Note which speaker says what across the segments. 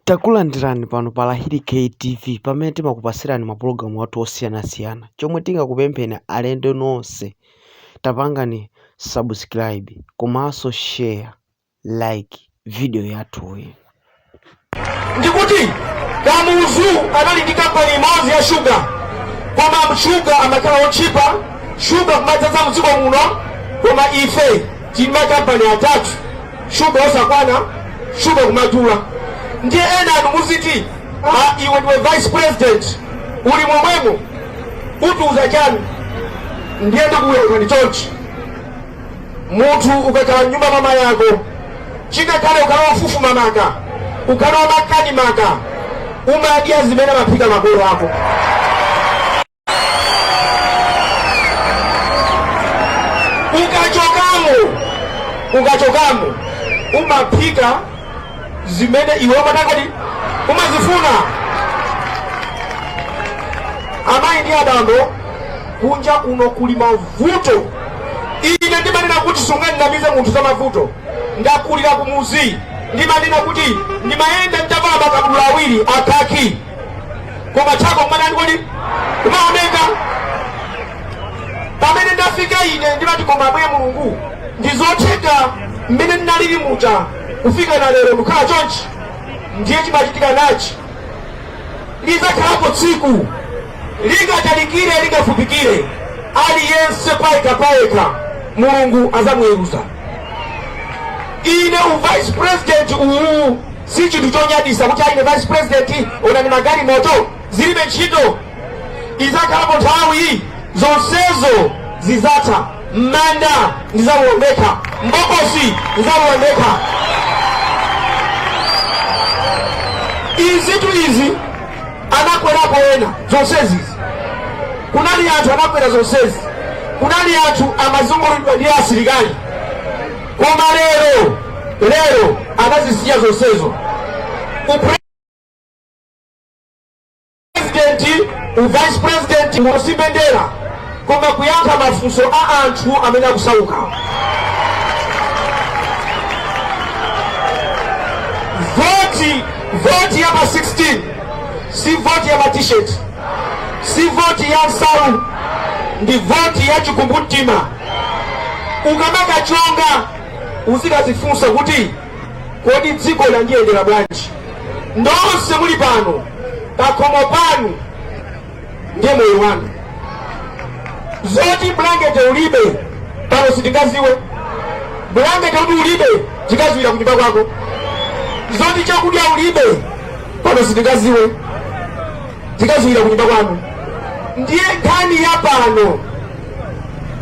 Speaker 1: Takulandirani pano pa Lahiri-K TV pamene timakupatsirani mapulogalamu athu osiyanasiyana. Chomwe tingakupempheni alendo nonse tapangani subscribe komanso share, like video yathuyi.
Speaker 2: Ndikuti Kamuzu anali ndi kampani imodzi ya shuga, koma shuga amakhala otchipa, shuga kumadzaza mdziko muno, koma ife tili ma company atatu shuga osakwana shuga kumadula ndiye ena anu muziti ah, iwe ndiwe vice president uli momwemo utiuza chani ndiye ndikuyankhani chonchi munthu ukakhala mnyumba mama yako chingakhale ukhala wofufuma maka ukhala wamakani maka umadya zimene amaphika makolo ako ukachokamo ukachokamo umaphika zimene iwe umatakati umazifuna amayi ndi abambo kunja kuno kuli mavuto ine ndimanena kuti sunganamize munthu za mavuto ndakulira kumuzi ndimanena kuti ndimayenda nditavala makabudula awiri akhaki koma thako kumakhala kuti kumaoneka pamene ndafika ine ndimati koma ambuye mulungu ndizotheka mmene ndinalili muja kufika na lero ndikukhala chonchi ndiye chimachitika n'chi lizakhalapo tsiku lingatalikire lingafupikire aliyense payekha payekha mulungu azamuweruza ine uvice president uwu Si chinthu chonyadisa kuti a ine vice president onani magalimoto zilibe ntchito izakhalapo nthawi zonsezo zizatha mmanda ndizauondeka mbokosi ndizauondeka izitu izi anakwerapo ena zonsezi kunali anthu anakwera zonsezi kunali anthu amazungulidwa ndi asilikali Koma lero lero anazisiya zonsezo upresidenti uvice president n'ngosimbwendera koma kuyankha mafunso a anthu amene akusauka voti voti ya pa 16 si voti ya matisheti si voti ya nsalu ndi voti ya chikumbumtima Ukamakachonga uzikazifunsa kuti kodi dziko landiyendera bwanji? Nonse muli pano pakhomo panu ndiye moyo wanu, zoti bulangete ulibe pano sitingaziwe. Bulangete kuti ulibe tikadziwira kunyumba kwako, zoti chakudya ulibe pano sitingaziwe, tikadziwira kunyumba kwanu. Ndiye nkhani ya pano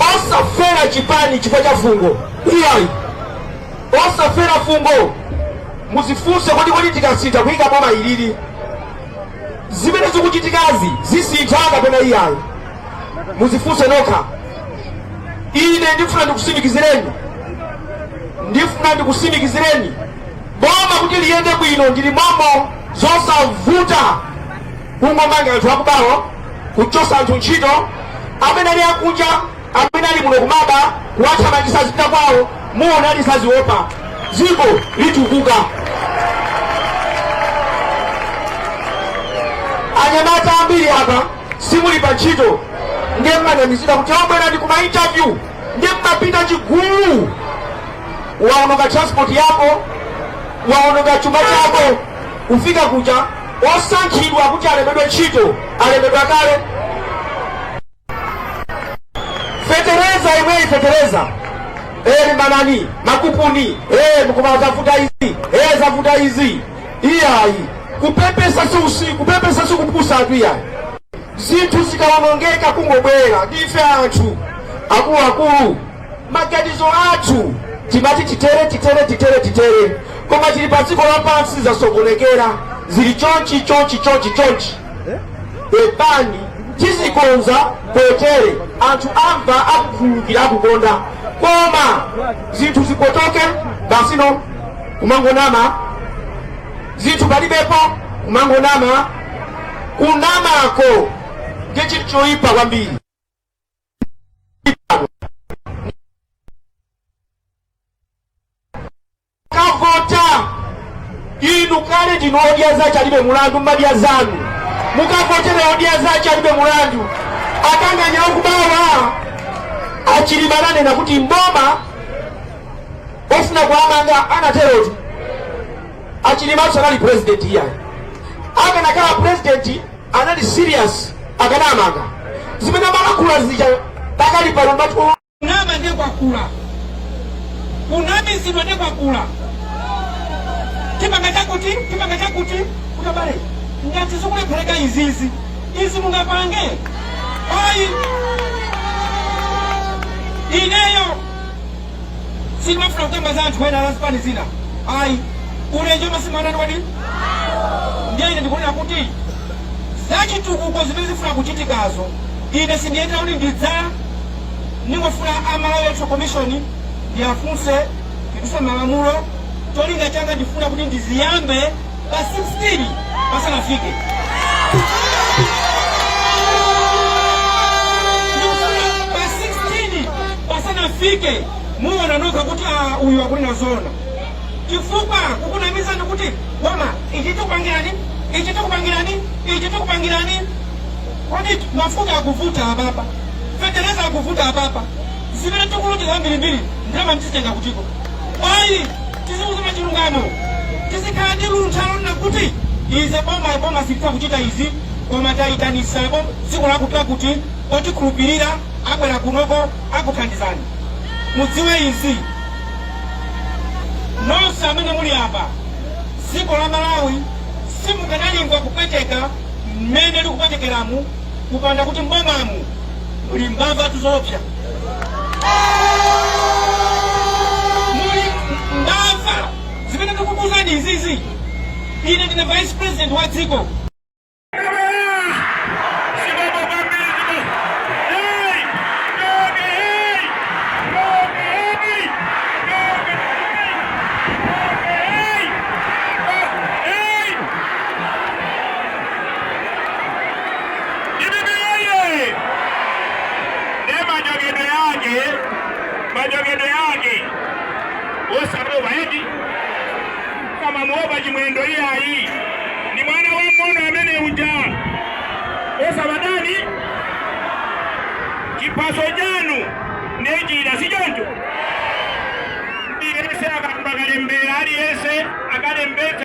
Speaker 2: osafera chipani chifukwa cha fungo iyayi osafera fungo muzifunse kuti kodi tikasintha kuyika boma ilili zimene zikuchitikazi zisintha kapena iyayi muzifunse nokha ine ndifuna ndikusimikizireni ndifuna ndikusimikizireni boma kuti liyende bwino ndili momo zosavuta kungomanga anthu akubawo kuchosa anthu ntchito amene ali akunja amene ali muno kumaba kuwathamangisa azipita kwawo muona lisaziopa ziko litukuka anyamata ambiri apa simuli pa ntchito nde mmanamizidwa kuti kwabwera ndi kuma interview nde mmapita chigulu waononga transport yako waononga chuma chako ufika kuja osankhidwa kuti alembedwe ntchito alembedwa kale. Fetereza imweyi fetereza eh, limbanani makupuni eh, mukoma zavuta izi eh, zavuta izi iyayi kupepesa si usiku kupepesa si kupusatu iyayi zinthu zikawonongeka kungobwera ndife anthu akuluakulu maganizo athu timati titere titere titere titere koma tili pa dziko lapansi zasokonekera zili chonchi chonchi chonchi chonchi pepani tizikonza potere anthu amva akukhululukira akukonda koma zinthu zipotoke basi no kumangonama zinthu palibepo kumangonama kunamako nde chinthu choyipa kwambiri mukavote inu kale ndinu odya zake alibe mulandu mmadya zanu mukavotera odya zake alibe mulandu akanganya akubawa achilima ananena kuti mboma afuna kuwamanga anaterotu achilima sanali president iyayi akanakhala president anali serious akanamanga zimene amalankhula zija pakali pano ngati kunama ndiye kwakula kunamizidwa ndiye kwakula chipanga chakuti chipanga chakuti koma abale ngati zikulephereka izizi izi mungapange ayi ineyo sitimafuna kukamba za anthu ena la zipani zina ayi ulenje omwe simanani wadi ndiye ine ndikunena kuti zachitukuko zimene zifuna kuchitikazo ine sindiyendera kuti ndidza ndingofuna a Malawi electoral commission ndiwafunse ndiduse malamulo cholinga changa ndifuna kuti ndiziyambe pa 16 pasanafike pa 16 pasanafike muona nokha kuti uyu akunena zoona chifukwa kukunamizani kuti koma ichi tikupangirani ichi tikupangirani ichi tikupangirani kodi mafuta akuvuta ababa feteleza akuvuta ababa zimene tikuti zambirimbiri ndalama ndizitenga kutiko ayi tizikuuzani chilungamo tizikhala ndi luntha lonena kuti ife boma boma sititha kuchita izi koma tayitanitsako dziko lakuti lakuti otikhulupirira abwera kunoko akuthandizani mudziwe izi nonse amene muli apa dziko la malawi silikanalingwa kupweteka mmene likupwetekeramu kupanda kuti mbomamu muli mbavatu zoopsa muli mbava zimene ndikukuuzani izizi ine ndine vice president wa dziko
Speaker 3: Dpp woyee! Ndiye machokedwe ake, machokedwe ake osaopa eti kumamuopa Chimwendo iyayi ndi mwana wamng'ono amene uja musamataye chiphaso chanu ndi njira si choncho aliyense akayamba kalembera aliyense akalembetse